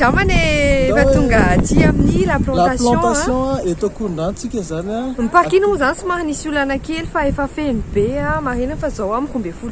Andramana e, efa tonga aty amin'ny la plantation. La plantation eto Akorondranotsika zany a. Ny parking moa zany somary nisy olana kely fa efa feno be a, marina fa zao amiko mbe folo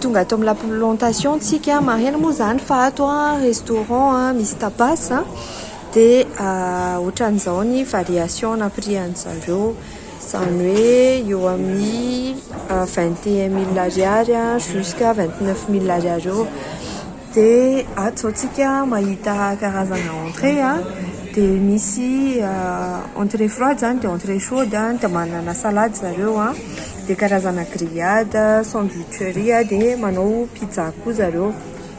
tonga ato amin'ny laplantation tsika maheno moa zany fa ato a restaurant a misy tapas a dia ohatran'izao ny variation na prix an'zareo izany hoe eo amin'ny vingt et un mille ariary jusqu'à vingt neuf mille ariary eo, dia ato izao tsika mahita karazana entrée a, dia misy entrée froide izany dia entrée chaude a, dia manana salade zareo a, dia karazana grillade, sandwicherie dia manao pizza koa zareo.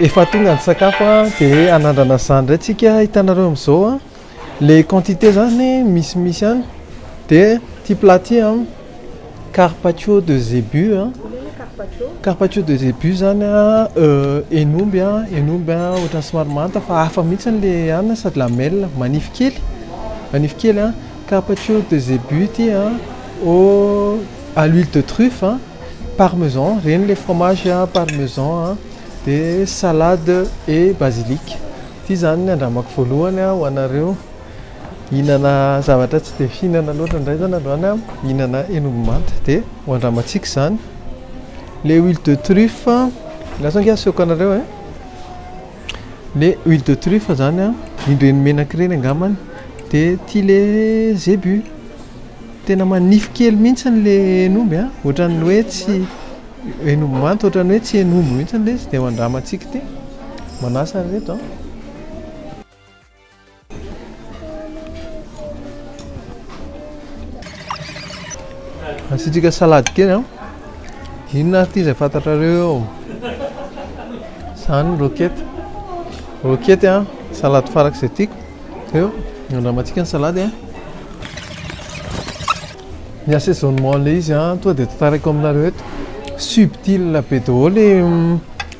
Efa tonga ny sakafo an, dia hanandrana izany indray tsika, hitanareo amin'izao an, le quantité zany misimisy any dia ity plat ity an, carpaccio de zebu an, carpaccio de zebu zany an hen'omby an, hen'omby an ohatran'ny somary manta fa hafa mihitsy le hanina sady lamelle, manify kely, manify kely an. Carpaccio de zebu ity a, au à l'huile de truffe a, parmesan, ireny ilay fromage a, parmesan a, dia salade et basilic. Ity izany ny andramako voalohany a ho anareo. Hihinana zavatra tsy dia fihinana loatra indray izany androany aho, hihinana hen'omby manta. Dia ho andramantsika izany. Ilay huile de truffe, lasa ange asehoko anareo e. Le huile de truffe zany an, iny reny menaka ireny angambany de tia le zebu, tena manify kely mihitsy le hen'omby an, ohatran'ny hoe tsy hen'omby manta, ohatran'ny hoe tsy hen'omby mihitsy le izy de andramantsika ity, manasa ry reto an. Asiantsika salady kely an. Inona ary ity izay fantatrareo eo? Izany ny roquette. Roquette an, salady farak'izay tiako. Eo, andramantsika ny salady an. Ny assaisonnement le izy an, tonga dia tantaraiko aminareo eto, subtil be daholo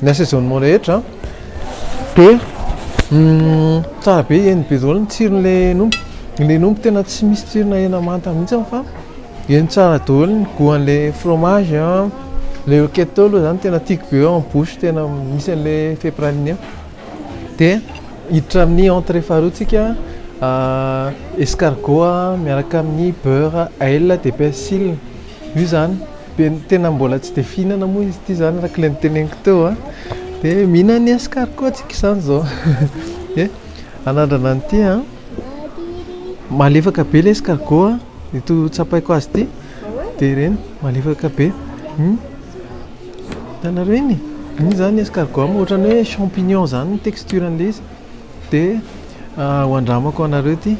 ny assaisonnement rehetra an, dia tsara be, heno be daholo ny tsiron'ilay omby, ilay omby tena tsy misy tsirona hena manta mihitsy an fa heno tsara daholo ny goût an'ilay fromage an, ilay roquette aloha izany tena tiako be eo amin'ny bouche, tena misy an'ilay effet praliné. Dia hiditra amin'ny entrée faharoantsika escargot miaraka amin'ny beurre ail de persil. Io izany dia tena mbola tsy dia fihinana moa izy ity izany araka ilay noteneniko teo a. Dia mihinana ny escargot tsika izany izao. Dia anandrana an'ity a. Malefaka be ilay escargot a, ito tsapaiko azy ity. Dia ireny malefaka be. Hitanareo iny e, iny izany escargot am, ohatran'ny hoe champignon izany ny texture an'ilay izy. Dia ho andramako anareo ity.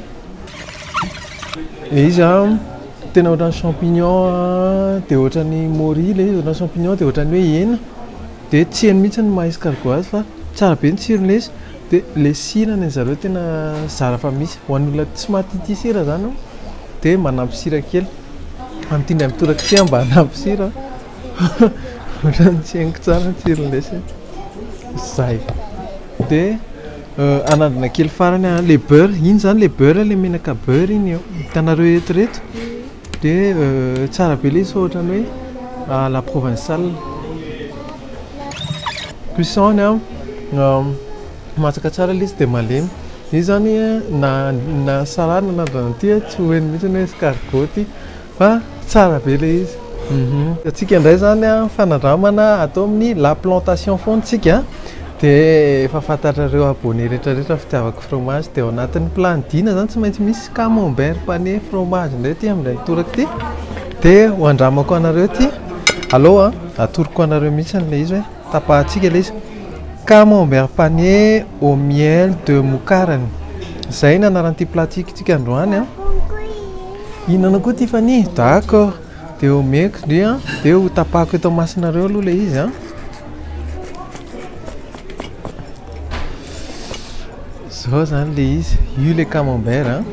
Ilay izy tena ohatran'ny champignon, dia ohatran'ny môri ilay izy, ohatran'ny champignon dia ohatran'ny hoe hena. Dia tsy heno mihitsy ny maha-escargot azy fa tsara be ny tsirony ilay izy. Dia ilay sira ny an'ny zareo tena zara fa misy. Ho an'olona tsy maha tia tia sira izany dia manampy sira kely. Amin'ity indray mitoraka ity aho mba hanampy sira. Ohatran'ny tsy henoko tsara ny tsiron'ny dessert. Zay. De anandrana kely farany a le beurre, iny zany le beurre le menaka beurre iny eo. Hitanareo eto reto? De tsara be le izy fa ohatran'ny hoe à la provençale. Cuisson-ny a masaka tsara le izy de malemy. Io zany na na salade na anandrana ty a tsy ho heno mihitsy ny hoe escargot ty. Fa tsara be ilay izy. Antsika indray izany an, ny fanandramana atao amin'ny la plantation foana isika dia efa fantatrareo abonné rehetra rehetra fitiavako fromage dia ao anatin'ny plat-n'i Dina izany tsy maintsy misy camembert pané fromage indray ity amin'ilay mitoraka ity dia ho andramako anareo ity alou an, atoroko anareo mihitsy ilay izy hoe tapahantsika ilay izy camembert pané au miel de moukarany izay no anaran'ity plat-ntsika androany an. Hihinana koa Tiffany? D'accord. Dia homeko ndry an, dia hotapahako eto masonareo aloha ilay izy an. Izao izany ilay izy, io ilay camembert an.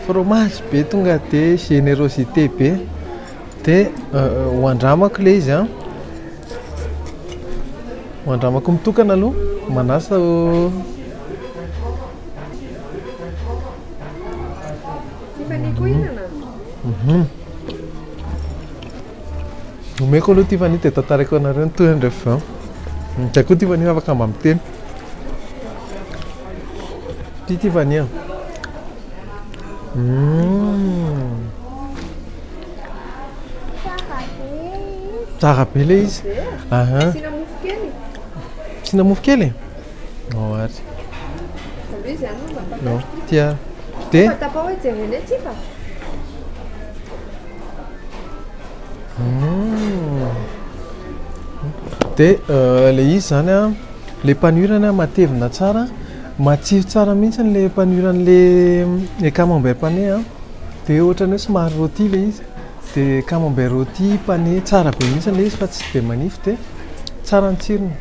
Fromage be tonga dia générosité be. Dia ho andramako ilay izy an. Ho andramako mitokana aloha, manasa. Tiffany koa hihinana? Mhm. Omeko aloha Tiffany dia tantaraiko anareo ny tohiny rehefa avy eo. Ny tiako koa Tiffany hoe afaka mba miteny. Tia Tiffany an. Mm. Tsara be ilay izy. Aha. Asiana mofo kely? Asiana mofo kely? Oh, ary. Salut, izy ihany no mba No, tapao. tia. Dia, Mba tapao hoe jerena etsy fa. dia euh, le izy zany a, le panurany a matevina tsara, matsiro tsara mihitsy ny le panuran'le le camembert pané a. Dia ohatran'ny hoe somary rôti le izy. De camembert rôti pané tsara be mihitsy ilay izy fa tsy dia manify dia tsara ny tsirony.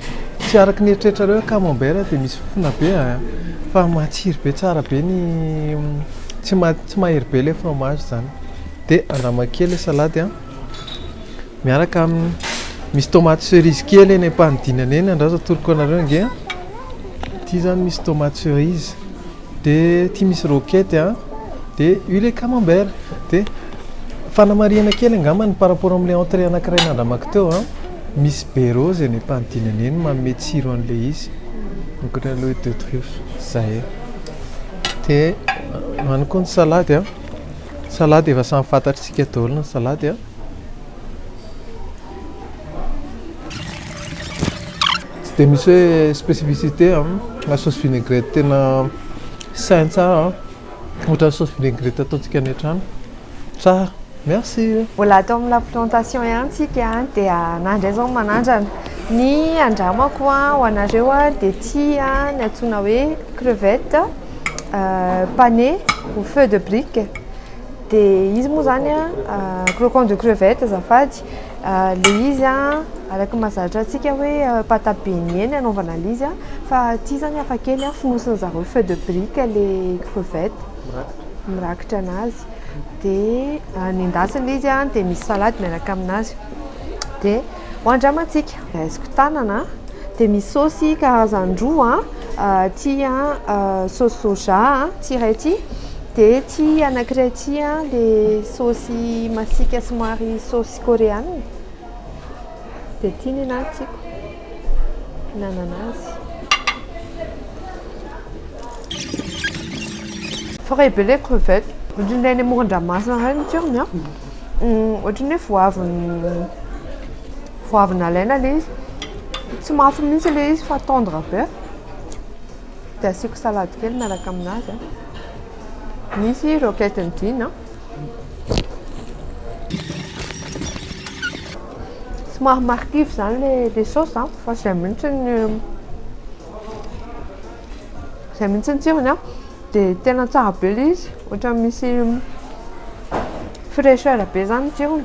Tsy araka ny eritreritrareo hoe camembert dia misy fofona be a! Fa matsiro be tsara be ny tsy ma- tsy mahery be ilay fromage izany. Dia andramo kely ilay salady a, miaraka amin'ny, misy tomaty cerise kely eny am-panidinana eny andraso atoroko anareo ange a, ity izany misy tomaty cerise. de ty misy roquette a de io le camembert de fanamarihana kely angamba ny par rapport amle entrée anakiray nandramako teo a misy berro zay any ampanidinana eny manome tsiro anle izy ankoatranle huit de truffe zay de any koa ny salady a salady efa samy fantatritsika daholo ny salady a Tsy dia misy hoe spécificité na sauce vinaigrette tena saint tsara ohatran'ny sauce vinaigrette ataontsika any an-trano. Tsara. Merci. Mbola ato amin'ny la plantation ihany tsika dia na indray izao manandrana. Ny andramako ho anareo dia ity ny antsoina hoe crevette panée au feu de brique. Dia izy moa izany croquant de crevette azafady. Ilay izy araka ny mahazatra antsika hoe pâte à beigner no anaovana an'ilay izy fa aty izany hafa kely, fonosin'ny zareo feuille de brique ilay crevette, mirakitra an'azy, dia nendasina ilay izy dia misy salady miaraka amin'azy, dia hoandramantsika. Raisiko tanana dia misy saosy karazany roa, ity saosy soja ity iray ity Dia ity anankiray ity an, dia saosy masika somary saosy koreana. Dia ity ny anahy tiako. Nanana azy. Frais be ilay crevette. Ohatran'ilay any amoron-dranomasina indray ny tsirony an. Ohatran'ny hoe vao avy vao avy nalaina ilay izy. Tsy mafy mihitsy ilay izy fa tendre be. Dia asiako salady kely miaraka aminazy. Nisy roquette ny jean an. Somary marikivy izany ilay saosy an, fa izay mihitsy ny izay mihitsy ny tsirony an. Dia tena tsara be ilay izy, ohatran'ny misy fraîcheur be izany ny tsirony.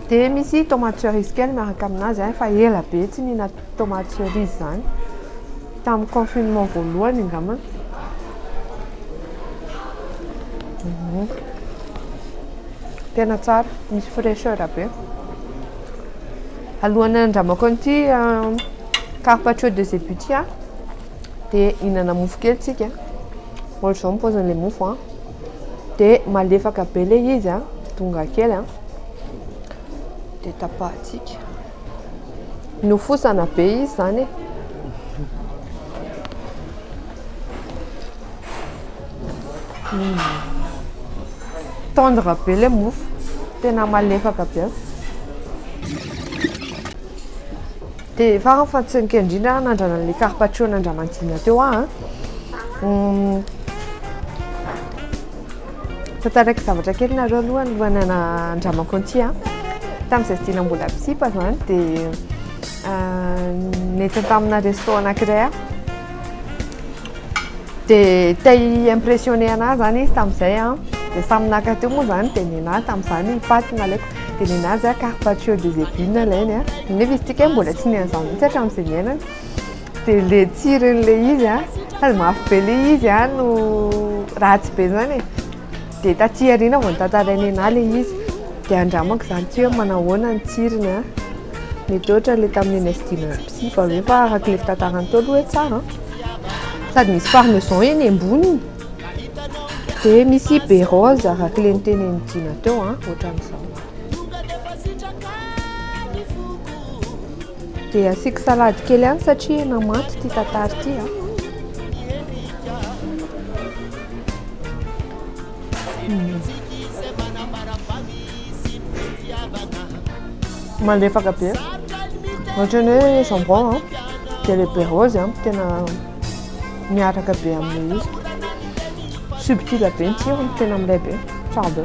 Dia misy tomate cerise kely miaraka aminazy, fa ela be tsy nihinako. Tomates cerises zany. Tamin'ny confinement voalohany angamba. Mhm. Tena tsara, misy fraîcheur be. Alohan'ny handramako an'ity euh, carpaccio de zebutia dia hinana mofo kely tsika. Ohatra izao ny paozin'ilay mofo an. Dia malefaka be ilay izy an, tonga kely an. Dia tapahantsika. Nofosana be izy izany e! Tendre be ilay mofo, tena malefaka be an! Dia farany fa tsy nikely indrindra aho nandrana an'ilay carpaccio nandraman'Dina teo aho an! Tantarako zavatra kely nareo aloha alohan'ny hanandramako an'ity a. Tamin'izay tsy dila mbola mpisipa izany dia nety tamina resto anankiray aho. Dia te hi-impressionner anahy izany izy tamin'izay a. Dia samy naka teo moa izany dia nenahy tamin'izany paty no nalaiko. Dia nenahy zah carpaccio de zeppine no alainy a. Nefa izy ity kay mbola tsy nihaino an'izany mihitsy hatramin'izay niainany. Dia le tsirony le izy a, sady mafy be le izy a no ratsy be zany e, dia taty aoriana vao notantarain'i Nena le izy, dia andramako zany tsy hoe manao ahoana ny tsirony a, mety ohatra le tamin'ny eny Sdina Psy va ve fa araka le fitantarany teo aloha hoe tsara an, sady misy parmesan eny amboniny, dia misy be rose araka le nitenenin'i Jina teo an, ohatran'izao. Dia asiako salady kely ihany satria hena manta ity tatary ity a. Malefaka be. Ohatran'ny hoe jambon a. Dia ilay be rose a tena miaraka be amin'ilay izy. Subtil be ny tsirony, tena milay be. Tsara be.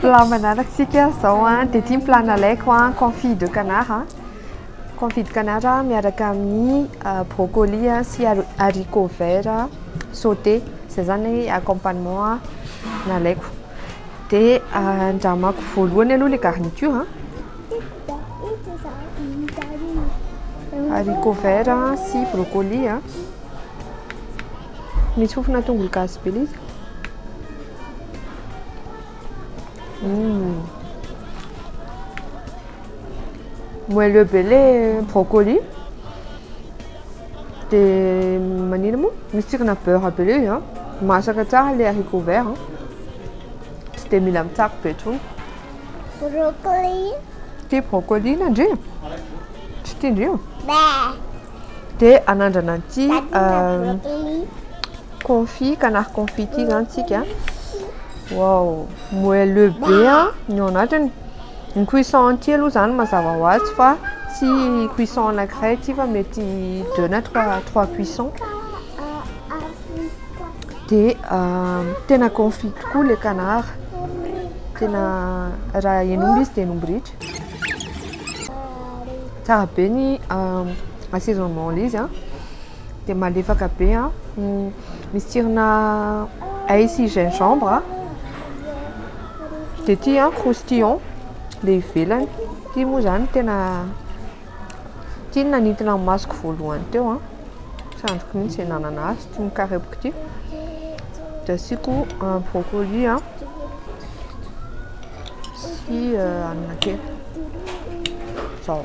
Plat manarak'isika zao an, dia ity ny plat nalaiko an, confit de canard an, confit de canard miaraka amin'ny brocoli sy haricot vert sauté, zay zany ny accompagnement nalaiko. Dia andramako voalohany aloha ilay garniture an, haricot vert sy brocoli an, misy fofona tongolo gasy be ilay izy. Mmh. Moelleux be le brocoli. Dia manina moa? Misy tsirina beurre be le izy an. Masaka tsara le haricot vert an. Tsy dia mila mitsako be intsony. Brocoli. Tia brocoli nandry? Tsy tiandrio? Dia anandrana an'ity. Brocoli. Confit canard confit ity zany tsika a. Waouh, moelleux be a ny ao anatiny. Ny cuisson an'ity aloha izany mazava ho azy fa tsy cuisson anankiray ity fa mety deux na trois trois cuisson. Dia tena confit tokoa ilay canard. Tena raha hen'omby izy dia hen'omby ritra. Tsara be ny assaisonnement an'ilay izy a. dia malefaka be a misy tsirona ail sy gingembre a dia ity a croustillon ilay ivelany ity moa izany tena ity no nanintona ny masoko voalohany teo a tsy andriko mihitsy izay nanana azy ity mikarepoka ity dia asiako brocoli a sy hanina kely izao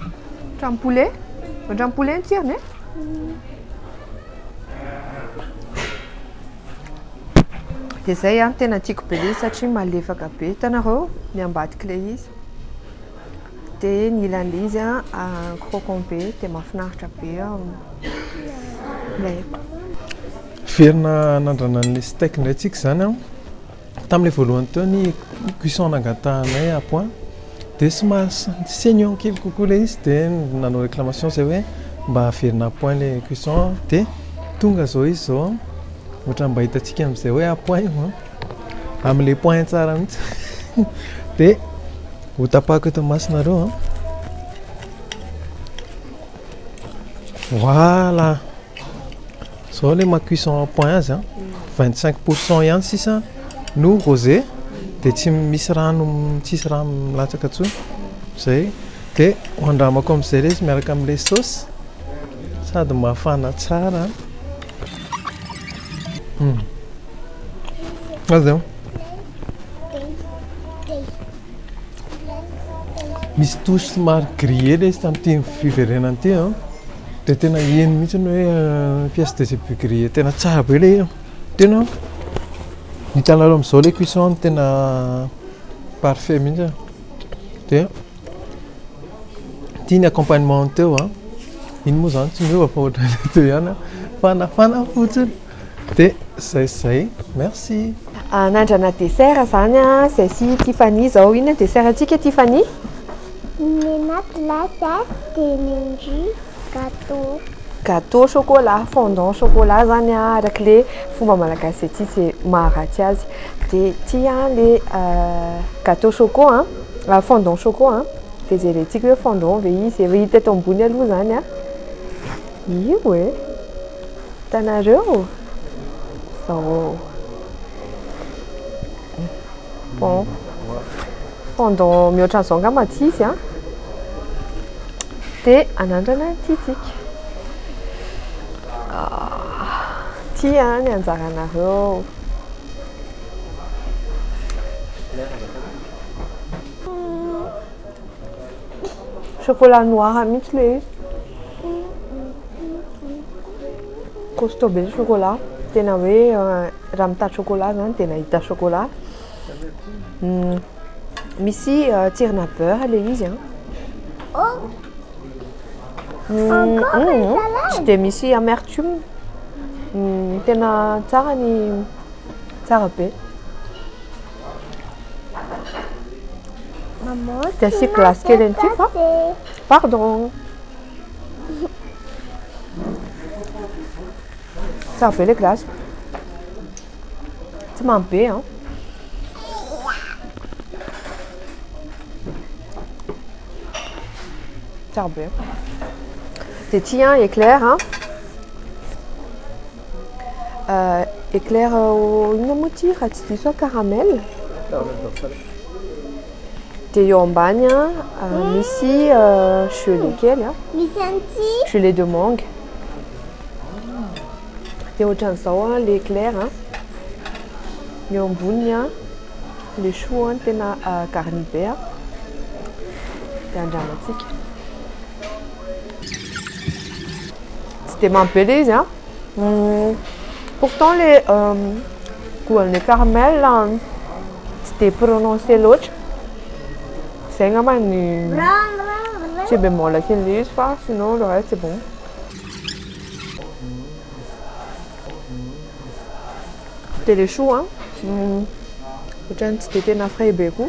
Ohatran'ny poulet. Ohatran'ny poulet ny tsirony eh. Dia zay an, tena tiako be ilay satria malefaka be. Hitanareo ny ambadik'ilay izy. Dia ny ilan'ilay izy an, ah, croquant be, dia mahafinaritra be an. Ilay. Hiverina hanandrana an'ilay steak indray tsika izany an. Tamin'ilay voalohany teo ny cuisson nangatahanay à point dia somary saignant kely kokoa ilay izy dia nanao réclamation zay hoe mba averina à point ilay cuisson dia tonga izao izy izao ohatran'ny mba hitantsika amin'izay hoe à point io an, amin'ilay point tsara mihitsy dia hotapahako eto imasonareo an. Voilà. Zao le ma cuisson en point azy an, vingt cinq pour cent ihany sisa no rose de tsy misy rano tsisy rano milatsaka tsony zay de andramako amizay le izy miaraka amle sauce sady mafana tsara an. Misy touche somary grillé ilay izy tamin'ity fiverenana ity an. Dia tena heno mihitsy ny hoe euh, pièce de zébu grillé tena tsara be ilay izy. Tena hitanareo amin'izao ilay cuisson tena parfait mihitsy. Dia ity ny accompagnement teo an. Iny moa izany tsy miova fa ohatran'ilay teo ihany fa nafana fotsiny. Dia izay sy izay. Merci. Anandrana dessert izany an, izay sy Tiffany izao. Inona ny dessert antsika Tiffany? Menà glace dia mendieu gâteau. Gâteau au chocolat, fondant au chocolat izany an, araka ilay fomba malagasy izay tia izay maha ratsy azy. Dia ity an ilay gâteau choco an, fondant choco an, dia izay ilay tiako hoe fondant ve izy, efa hita eto ambony aloha izany an. Io e. Hitanareo? Zao. Bon. Pendant mihoatra an'izao angamba tsy izy an. Dia anandrana ny titsika. Ity ah, an ny anjaranareo. Chocolat noir mintsy le izy. Costaud be ny chocolat. Tena hoe raha mitady chocolat zany dia nahita chocolat. Misy tsirona beurre le izy an. Tsy dia misy amertume. Tena tsara ny, tsara be. Maman, Dia asiako glace kely an'ity fa pardon. Tsara be ilay glace. Tsy mamy be an. Tsara be. Dia ity an, éclair an. Eclair au inona moa ity raha tsy diso aho caramel dia eo ambany misy gelée kely a gelée de mangue dia ohatran'izao ilay eclair a ny eo amboniny a ilay choux a ny tena garni be a dia andramantsika. Tsy dia mamy be ilay izy an! Pourtant ilay goût-n'ny lait caramel tsy dia prononcé loatra. Izay angamba ny petit bémol kelin'ilay izy fa sinon le reste c'est bon. Dia ilay choux an, ohatran'ny tsy dia tena frais be koa.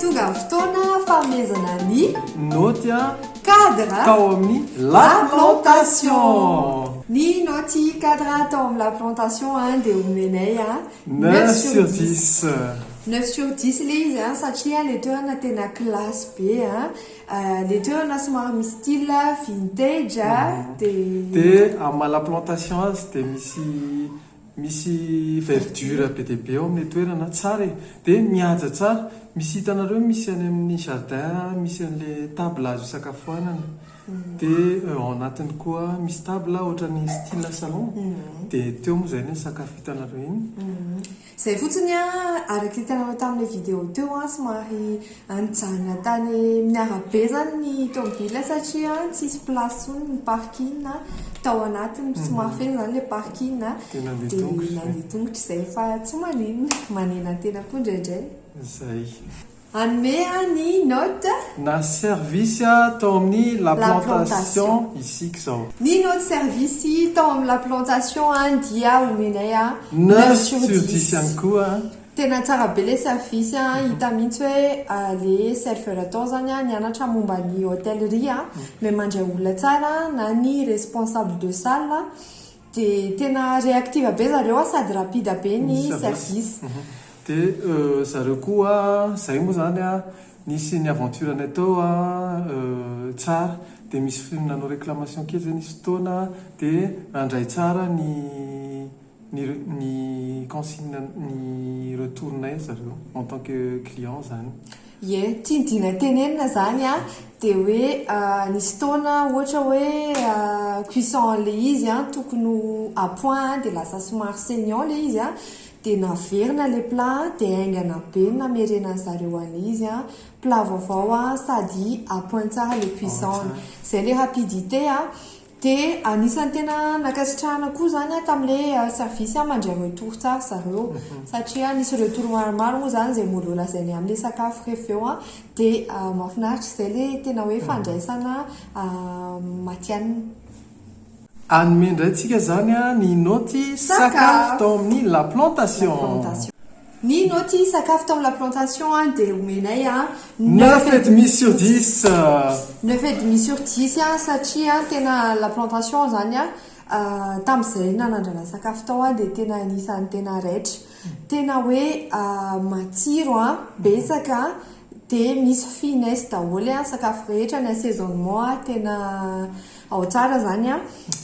Tonga ny fotoana fanomezana ny Naoty an! cadre Tao amin'ny La Plantation! Ny naoty cadre tao amin'ny La Plantation dia omenay Neuf sur dix. Neuf sur dix ilay izy an, satria ilay toerana tena classe be an, ilay toerana somary misy style vintage an, dia. Dia amin'ny maha la plantation azy dia misy misy verdure be dia be ao amin'ilay toerana, tsara e, dia mihaja tsara, misy hitanareo misy any amin'ny jardin misy an'ilay table azo hisakafoanana. Dia ao anatiny koa misy table ohatran'ny style salon, dia teo moa izay ny sakafo hitanareo iny. Izay fotsiny an, araka hitanareo tamin'ilay vidéo teo an, somary nijanona tany amin'ny arabe izany ny tomobila satria tsy nisy place intsony ny parking tao anatiny, somary feno izany ilay parking dia nandeha tongotra izay fa tsy maninona, manenantena koa indraindray. Izay. Hanome aho ny note. Na service tao amin'ny la plantation isika izao. Ny note service tao amin'ny la plantation dia omenay neuf sur dix ihany koa an. Tena tsara be ilay service an, hita mihitsy hoe ilay serveur tao izany nianatra momba ny hotellerie, mahay mandray olona tsara na ny responsable de salle Dia tena réactive be zareo an, sady rapide be ny service. Dia zareo koa, izay moa izany an, nisy ny aventure-nay teo an, tsara, dia misy nanao réclamation kely izay nisy fotoana, dia nandray tsara ny ny ny consigne ny retour-nay zareo en tant que client izany. Ie, ity ny dina tenenina izany an, dia hoe nisy fotoana ohatra hoe cuisson ilay izy an, tokony ho à point an, dia lasa somary saignant ilay izy an, dia naverina ilay plat an, dia haingana be ny namerenan'ny zareo an'izy an, plat vaovao an, sady à point tsara ilay cuisson-ny. Izay ilay rapidité an, Dia anisan'ny tena nankasitrahana koa izany aho tamin'ilay service aho mandray ireo tourta ry zareo satria nisy ireo tour maromaro moa izany izay mody nolazainay amin'ilay sakafo rehefa avy eo dia mahafinaritra izay ilay tena hoe fandraisana matihanina. Hanome indray tsika izany ny naoty sakafo tao amin'ny la plantation. Ny naoty sakafo tao la plantation an dia omenay an. Neuf et demi sur dix. Neuf et demi sur dix an satria an tena la plantation zany an tamin'izay nanandrana sakafo tao an dia tena anisan'ny tena raitra. Tena hoe matsiro an, betsaka an, dia misy finesse daholo an sakafo rehetra ny assaisonnement an tena Ao tsara zany an!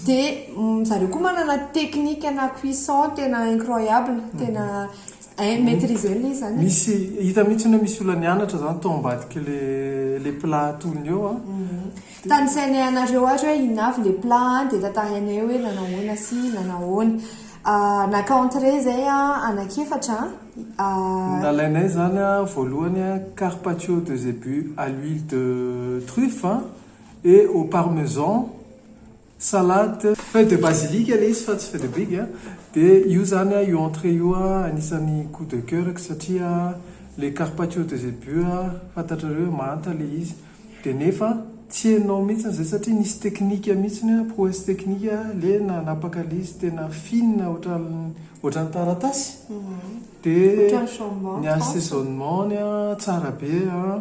De zareo koa manana technique ana cuisson tena incroyable, tena hainy maitriser ilay izy zany e! Misy, hita mihitsiny hoe misy olona nianatra zany tao ambadiky le le plat atolony eo an! Tanisainay anareo ary hoe inona avy le plat an! de tantarainay hoe nanahoana sy nanahoana. Naka entrée zay an, anak'efatra an! Nalainay zany an, voalohany an, carpaccio de zebu à l'huile de truffe an! et au parmesan, salade. Feuille de basilic ilay izy fa tsy feuille de brigue a, dia io izany a, io entrée io a, anisan'ny coup de coeur-ko satria ilay carpaccio de zébus a, fantatrareo hoe manta ilay izy, dia nefa tsy henonao mihitsy izay satria nisy teknika mihitsy a, prouesse technique a, ilay nanapaka ilay izy tena fine ohatran'ny ohatran'ny taratasy, dia ny assaisonnement-ny a, tsara be a,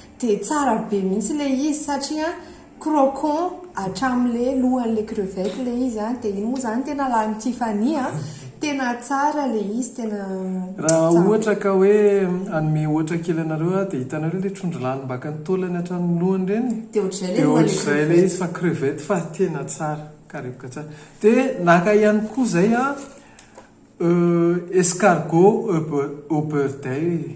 Dia tsara be mihitsy le izy satria croquant hatramin'le lohan'le crevette le izy an, dia iny moa zany tena lanin'i Tiffany an, tena tsara le izy, tena tsara. Raha ohatra ka hoe hanome ohatra kely anareo aho dia hitanareo ilay trondro lany baka ny taolany hatramin'ny lohany ireny? Dia ohatr'izay le lohan'le crevette. Dia ohatr'izay le izy fa crevette fa tena tsara, karepoka tsara. Dia naka ihany koa izay aho escargot au beurre d'ail.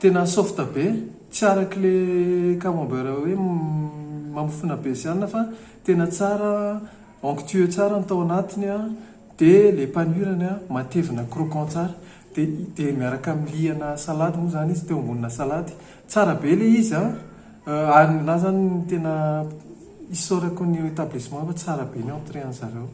Tena soft be, tsy araky le camembert hoe mamofona be sy anona fa tena tsara, onctueux tsara ny tao anatiny an, dia le panure-ny an matevina croquant tsara, dia miaraka amin'ny liana salady moa izany izy, teo ambonina salady, tsara be le izy an, ary ny anah izany tena isaorako ny etablissement fa tsara be ny entrée an'zareo.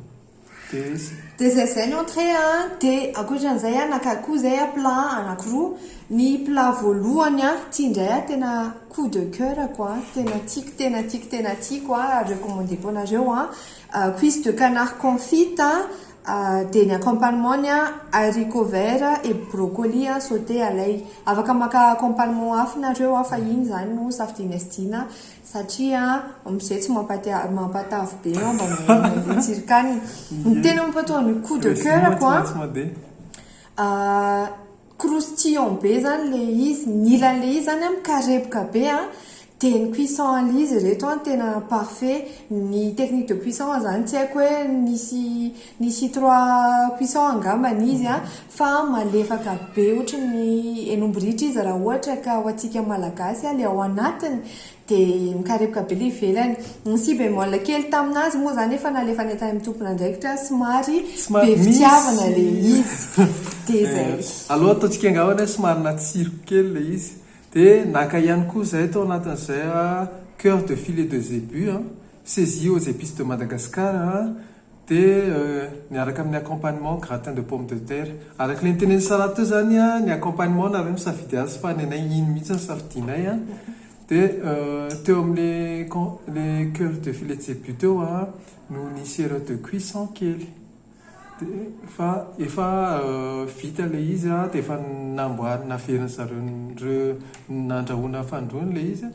Des. Dia izay izay ny entrée a. Dia ankoatran'izay a naka koa izay a plat anankiroa. Ny plat voalohany a, ity indray a tena coup de coeur-ko a, tena tiako tena tiako tena tiako a, recommandeko anareo a, cuisse de canard confite a, dia ny accompagnement-ny a haricots verts et brocoli a sauté à l'ail. Afaka maka accompagnement hafa nareo a fa iny izany no safidianay sy tiana. Satria mzay tsy mampatiavy mampatavy be an mba mandeha tsirika any ny tena mampatoa ny coup de coeur ko an croustillant be zany le izy ny ilany le izy zany an mikarepoka be an de ny cuisson an le izy reto an tena parfait ny technique de cuisson zany tsy aiko hoe misy Nisy trois cuisson angambany izy a, fa malefaka be ohatry ny henomby ritra izy raha ohatra ka ho antsika malagasy a, le ao anatiny de mikarepoka be le ivelany. Nisy bémol kely taminazy moa zany efa nalefany tany amin'ny tompon'andraikitra somary be fitiavana le izy de zay. Alou ataontsika angambany hoe somary natsiro kely le izy. De naka ihany koa zay tao anatin'izay a, coeur de filet de zebus a, saisie aux epices de Madagascar a, Dia miaraka amin'ny accompagnement gratin de pomme de terre. Araka ilay notenenin'i Sarah teo izany, ny accompagnement nareo misafidy azy fa ny anay iny mihitsy no safidianay. Dia teo amin'ilay con, ilay coeur de filet tsebu teo aho no nisy erreur de cuisson kely. Dia fa efa vita ilay izy dia efa namboarina, naverin-dry zareo nandrahoina fandroana ilay izy.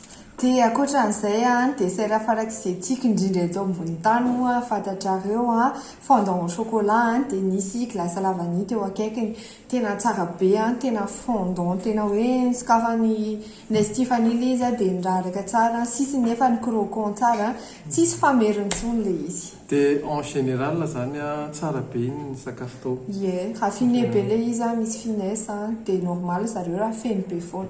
Dia ankoatran'izay a, ny dessert farak'izay tiako indrindra eto ambony tany moa fantatrareo a, fondant au chocolat a, dia nisy glace la vanille teo akaikiny, tena tsara be a, tena fondant tena hoe nosokafan'i Nest Tiffany ilay izy a, dia niraraka tsara, ny sisiny nefa ni-croquant tsara, tsisy fameriny intsony ilay izy. Dia en général izany a, tsara be ny sakafo tao. Ie, raffiné be ilay izy a, misy finesse a, dia normal zareo raha feno be foana.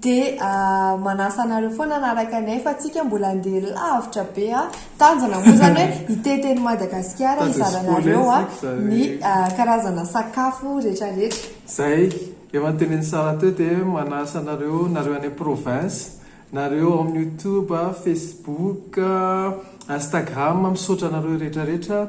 Dia manasa anareo foana hanaraka anay fa tsika mbola handeha lavitra be a! Tanjona moa izany hoe hitety eny Madagasikara hizaranareo a! ny karazana sakafo retraretra. Izay efa notenenin'i Sarah teo dia manasa anareo, nareo any province, nareo ao amin'ny youtube, facebook, instagram, misaotra anareo retraretra